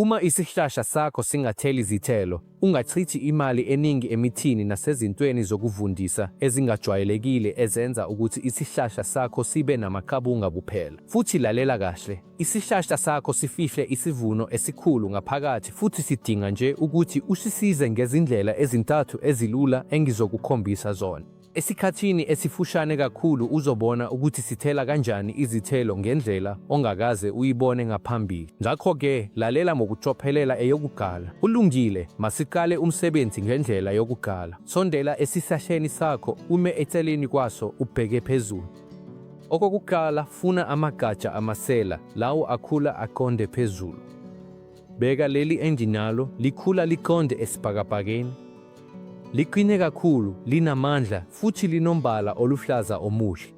Uma isihlahla sakho singatheli zithelo, ungachithi imali eningi emithini nasezintweni zokuvundisa ezingajwayelekile ezenza ukuthi isihlahla sakho sibe namaqabunga kuphela. Futhi lalela kahle, isihlahla sakho sifihle isivuno esikhulu ngaphakathi futhi sidinga nje ukuthi usisize ngezindlela ezintathu ezilula engizokukhombisa zona. Esikhathini esifushane kakhulu uzobona ukuthi sithela kanjani izithelo ngendlela ongakaze uyibone ngaphambili. Ngakho-ke, lalela ngokucophelela eyokugala. Kulungile, masiqale umsebenzi ngendlela yokugala. Sondela esihlahleni sakho, ume eceleni kwaso, ubheke phezulu. Okokuqala, funa amagatsha amasela, lawo akhula aqonde phezulu. Bheka leli enginalo, likhula liqonde esibhakabhakeni. Liqine kakhulu, linamandla futhi linombala oluhlaza omuhle.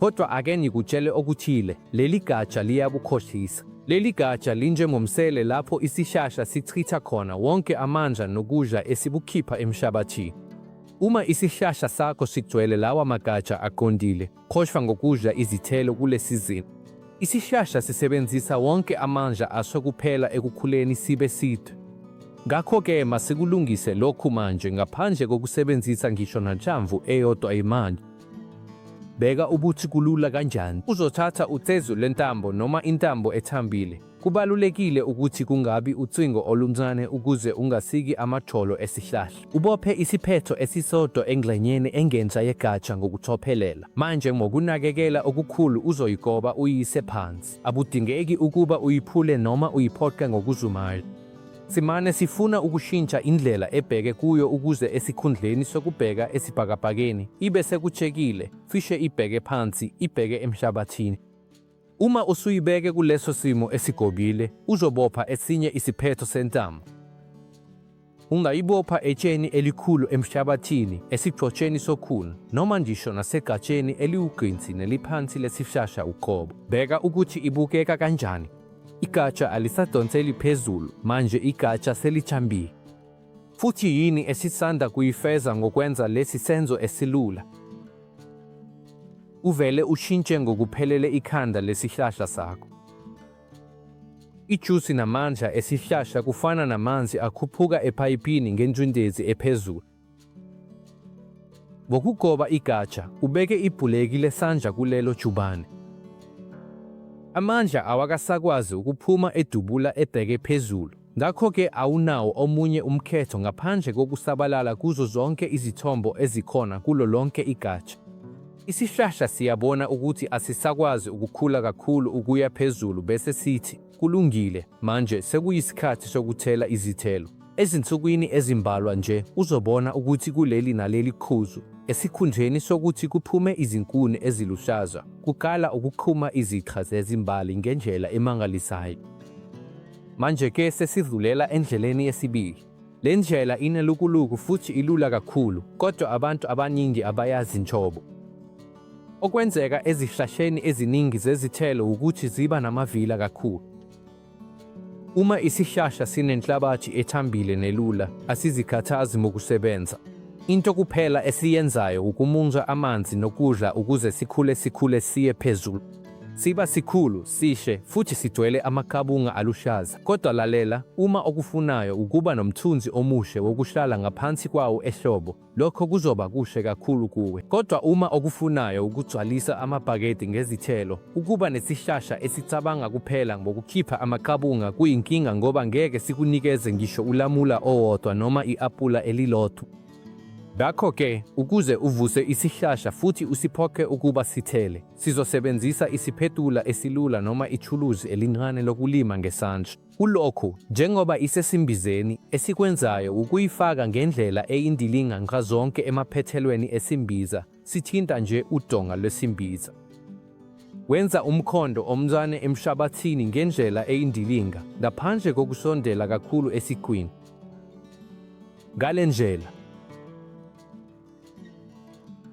Kodwa ake ngikutshele okuthile, leli gatsha liyakukhohlisa. Leli gatsha linjengomsele lapho isishasha sichitha khona wonke amandla nokudla esikukhipha emhlabathini. Uma isihlahla sakho sigcwele lawa magatsha aqondile, Khohlwa ngokudla izithelo kule sizini. Isihlahla sisebenzisa wonke amandla aso kuphela ekukhuleni sibe side. Ngakho-ke masikulungise lokhu manje ngaphandle kokusebenzisa ngisho nanhlamvu eyodwa yemanje. Bheka ukuthi kulula kanjani. Uzothatha ucezu lentambo noma intambo ethambile, Kubalulekile ukuthi kungabi ucingo oluncane ukuze ungasiki amajolo esihlahla. Ubophe isiphetho esisodwa engxenyeni engenhla yegatsha ngokucophelela. Manje ngokunakekela okukhulu uzoyigoba uyise phansi. Abudingeki ukuba uyiphule noma uyiphoqe ngokuzumayo. Simane sifuna ukushintsha indlela ebheke kuyo ukuze esikhundleni sokubheka esibhakabhakeni ibe sekutshekile, cishe ibheke phansi, ibheke emhlabathini. Uma usuyibeke kuleso simo esigobile, uzobopha esinye isiphetho sentambo. Ungayibopha etsheni elikhulu emhlabathini, esigxotsheni sokhuni, noma ngisho nasegatsheni eliwugqinsi neliphansi lesishasha uqobo. Bheka ukuthi ibukeka kanjani. Igatsha alisadonseli phezulu, manje igatsha selithambile. futhi yini esisanda kuyifeza ngokwenza lesi senzo esilula? Uvele ushintshe ngokuphelele ikhanda lesihlahla sakho. Ijusi namandla esihlahla kufana namanzi akhuphuka ephayipini ngengcindezi ephezulu. Ngokugoba igatsha, ubeke ibhuleki lesandla kulelo jubane. Amandla awakasakwazi ukuphuma edubula ebheke phezulu. Ngakho-ke awunawo omunye umkhetho ngaphandle kokusabalala kuzo zonke izithombo ezikhona kulo lonke igatsha. Isihlahla siyabona ukuthi asisakwazi ukukhula kakhulu ukuya phezulu bese sithi, Kulungile, manje sekuyisikhathi sokuthela izithelo. Ezinsukwini ezimbalwa nje uzobona ukuthi kuleli naleli qhuzu, esikhundleni sokuthi kuphume izinkuni eziluhlaza, kuqala ukuqhuma izixha zezimbali ngendlela emangalisayo. Manje ke sesidlulela endleleni yesibili. Le ndlela inelukuluku futhi ilula kakhulu, kodwa abantu abaningi abayazi njobo. Okwenzeka ezihlahleni eziningi zezithelo wukuthi ziba namavila kakhulu. Uma isihlahla sinenhlabathi ethambile nelula, asizikhathazi ngokusebenza. Into kuphela esiyenzayo ukumunca amanzi nokudla ukuze sikhule sikhule siye phezulu. Siba sikhulu, sishe, futhi sigcwele amaqabunga aluhlaza. Kodwa lalela, uma okufunayo ukuba nomthunzi omuhle wokuhlala ngaphansi kwawo ehlobo, lokho kuzoba kuhle kakhulu kuwe. Kodwa uma okufunayo ukugcwalisa amabhakede ngezithelo, ukuba nesihlahla esicabanga kuphela ngokukhipha amaqabunga kuyinkinga ngoba ngeke sikunikeze ngisho ulamula owodwa noma i-apula elilodwa. Ngakho-ke, ukuze uvuse isihlahla futhi usiphoqe ukuba sithele, Sizosebenzisa isiphethula esilula noma ithuluzi elincane lokulima ngesandla. Kulokhu, njengoba isesimbizeni, esikwenzayo wukuyifaka ngendlela eyindilinga nxazonke emaphethelweni esimbiza, sithinta nje udonga lwesimbiza. Wenza umkhondo omncane emhlabathini ngendlela eyindilinga, ngaphandle kokusondela kakhulu esiqwini. Ngale ndlela,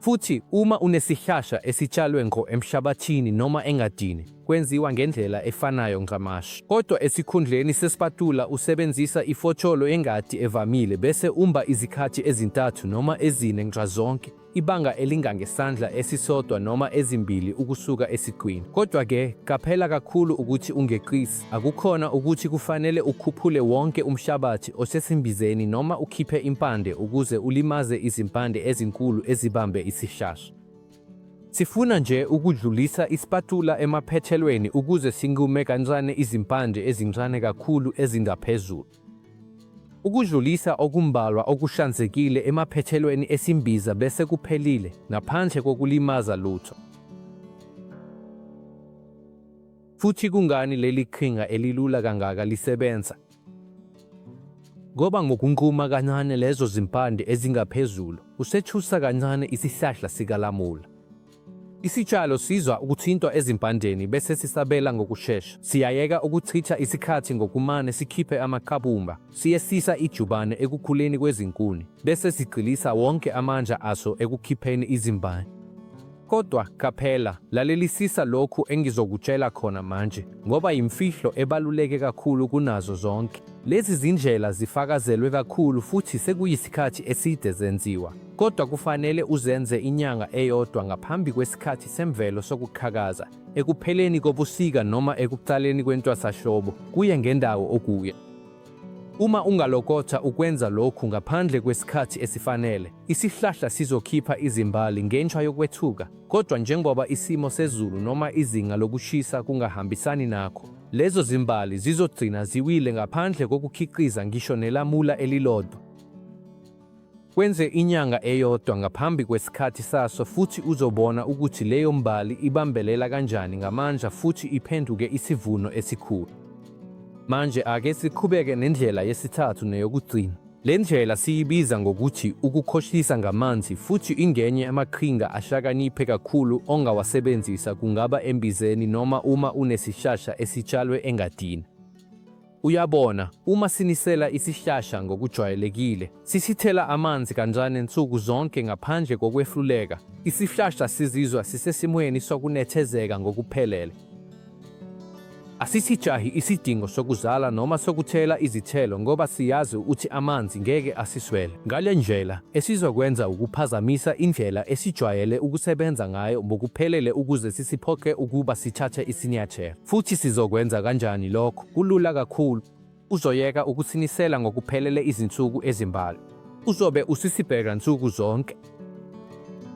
Futhi uma unesihlahla esitshalwe ngqo emhlabathini noma engadini, kwenziwa ngendlela efanayo ncamashi. Kodwa esikhundleni sesipatula usebenzisa ifotsholo yengadi evamile bese umba izikhathi ezintathu noma ezine nxazonke, ibanga elingangesandla esisodwa noma ezimbili ukusuka esiqwini. Kodwa-ke, qaphela kakhulu ukuthi ungeqisi. Akukhona ukuthi kufanele ukhuphule wonke umhlabathi osesimbizeni noma ukhiphe impande ukuze ulimaze izimpande ezinkulu ezibambe isihlahla. Sifuna nje ukudlulisa isipatula emaphethelweni ukuze sinqume kancane izimpande ezincane kakhulu ezingaphezulu. Ukudlulisa okumbalwa okuhlanzekile emaphethelweni esimbiza bese kuphelile, ngaphandle kokulimaza lutho. Futhi kungani leli qhinga elilula kangaka lisebenza? Ngoba ngokunquma kancane lezo zimpande ezingaphezulu, usethusa kancane isihlahla sikalamula. Isitshalo sizwa ukuthintwa ezimpandeni bese sisabela ngokushesha. Siyayeka ukuchitha isikhathi ngokumane sikhiphe amaqabumba, siyehlisa ijubane ekukhuleni kwezinkuni, bese sigxilisa wonke amandla aso ekukhipheni izimbali. Kodwa qaphela, lalelisisa lokhu engizokutshela khona manje, ngoba yimfihlo ebaluleke kakhulu kunazo zonke. Lezi zindlela zifakazelwe kakhulu futhi sekuyisikhathi eside zenziwa, kodwa kufanele uzenze inyanga eyodwa ngaphambi kwesikhathi semvelo sokuqhakaza, ekupheleni kobusika noma ekuqaleni kwentwasahlobo, kuye ngendawo okuyo. Uma ungalokotha ukwenza lokhu ngaphandle kwesikhathi esifanele, isihlahla sizokhipha izimbali ngenxa yokwethuka. Kodwa njengoba isimo sezulu noma izinga lokushisa kungahambisani nakho, lezo zimbali zizogcina ziwile ngaphandle kokukhiqiza ngisho nelamula elilodwa. Kwenze inyanga eyodwa ngaphambi kwesikhathi saso futhi uzobona ukuthi leyo mbali ibambelela kanjani ngamandla futhi iphenduke isivuno esikhulu. Manje ake siqhubeke nendlela yesithathu neyokugcina. Le ndlela siyibiza ngokuthi ukukhohlisa ngamanzi futhi ingenye amaqhinga ahlakaniphe kakhulu ongawasebenzisa kungaba embizeni noma uma unesihlahla esitshalwe engadini. Uyabona, uma sinisela isihlahla ngokujwayelekile, sisithela amanzi kancane nsuku zonke ngaphandle kokwehluleka, isihlahla sizizwa sisesimweni sokunethezeka ngokuphelele. Asisijahi isidingo sokuzala noma sokuthela izithelo ngoba siyazi ukuthi amanzi ngeke asiswele. Ngale ndlela, esizokwenza ukuphazamisa indlela esijwayele ukusebenza ngayo ngokuphelele ukuze sisiphoqe ukuba sithathe isinyathelo. Futhi sizokwenza kanjani lokho? Kulula kakhulu. Uzoyeka ukusinisela ngokuphelele izinsuku ezimbalwa. Uzobe usisibheka nsuku zonke.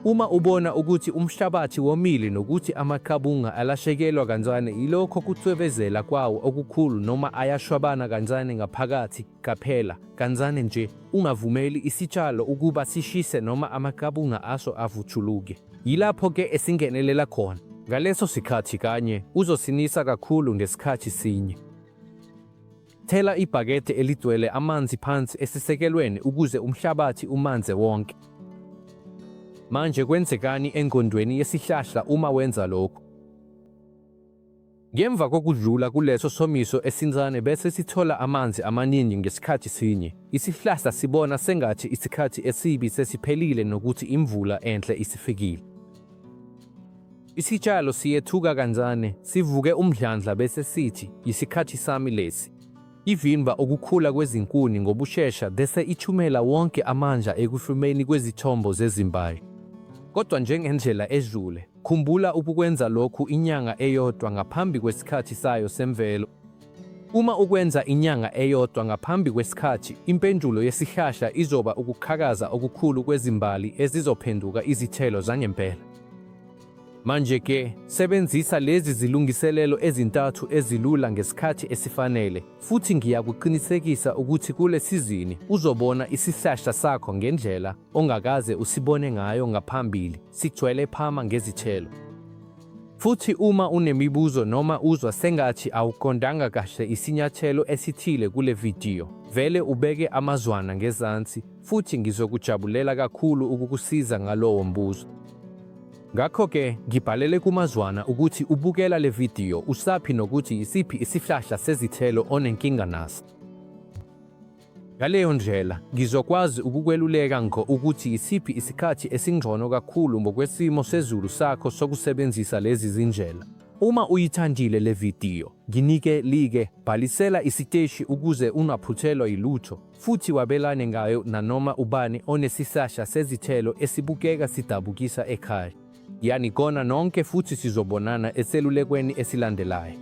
Uma ubona ukuthi umhlabathi womile nokuthi amaqabunga alashekelwa kancane yilokho kucwebezela kwawo okukhulu noma ayashwabana kancane ngaphakathi, Qaphela, kancane nje, ungavumeli isitshalo ukuba sishise noma amaqabunga aso avutshuluke. Yilapho ke esingenelela khona. Ngaleso sikhathi kanye uzosinisa kakhulu ngesikhathi sinye. Thela ibhakede eligcwele amanzi phansi esisekelweni ukuze umhlabathi umanze wonke. Manje kwenzekani engqondweni yesihlahla uma wenza lokhu? Ngemva kokudlula kuleso somiso esincane bese sithola amanzi amaningi ngesikhathi sinye, isihlahla sibona sengathi isikhathi esibi sesiphelile nokuthi imvula enhle isifikile. Isitshalo siyethuka kancane, sivuke umdlandla bese sithi, yisikhathi sami lesi. Ivimba ukukhula kwezinkuni ngobushesha bese ithumela wonke amandla ekuhlumeni kwezithombo zezimbali. Kodwa njengendlela edlule, Khumbula ukukwenza lokhu inyanga eyodwa ngaphambi kwesikhathi sayo semvelo. Uma ukwenza inyanga eyodwa ngaphambi kwesikhathi, impendulo yesihlahla izoba ukuqhakaza okukhulu kwezimbali ezizophenduka izithelo zangempela. Manje-ke, sebenzisa lezi zilungiselelo ezintathu ezilula ngesikhathi esifanele, futhi ngiyakuqinisekisa ukuthi kule sizini uzobona isihlahla sakho ngendlela ongakaze usibone ngayo ngaphambili, sigcwele phama ngezithelo. Futhi uma unemibuzo noma uzwa sengathi awuqondanga kahle isinyathelo esithile kule vidiyo, vele ubeke amazwana ngezansi futhi ngizokujabulela kakhulu ukukusiza ngalowo mbuzo. Ngakho-ke ngibhalele kumazwana ukuthi ubukela le vidiyo usaphi nokuthi isiphi isihlahla sezithelo onenkinga naso. Ngaleyo ndlela, ngizokwazi ukukweluleka ngqo ukuthi isiphi isikhathi esingcono kakhulu ngokwesimo sezulu sakho sokusebenzisa lezi zindlela. Uma uyithandile le vidiyo, nginike like, bhalisela isiteshi ukuze ungaphuthelwa yilutho, futhi wabelane ngayo nanoma ubani onesihlahla sezithelo esibukeka sidabukisa ekhaya. Yanigona nonke futhi sizobonana eselulekweni esilandelayo.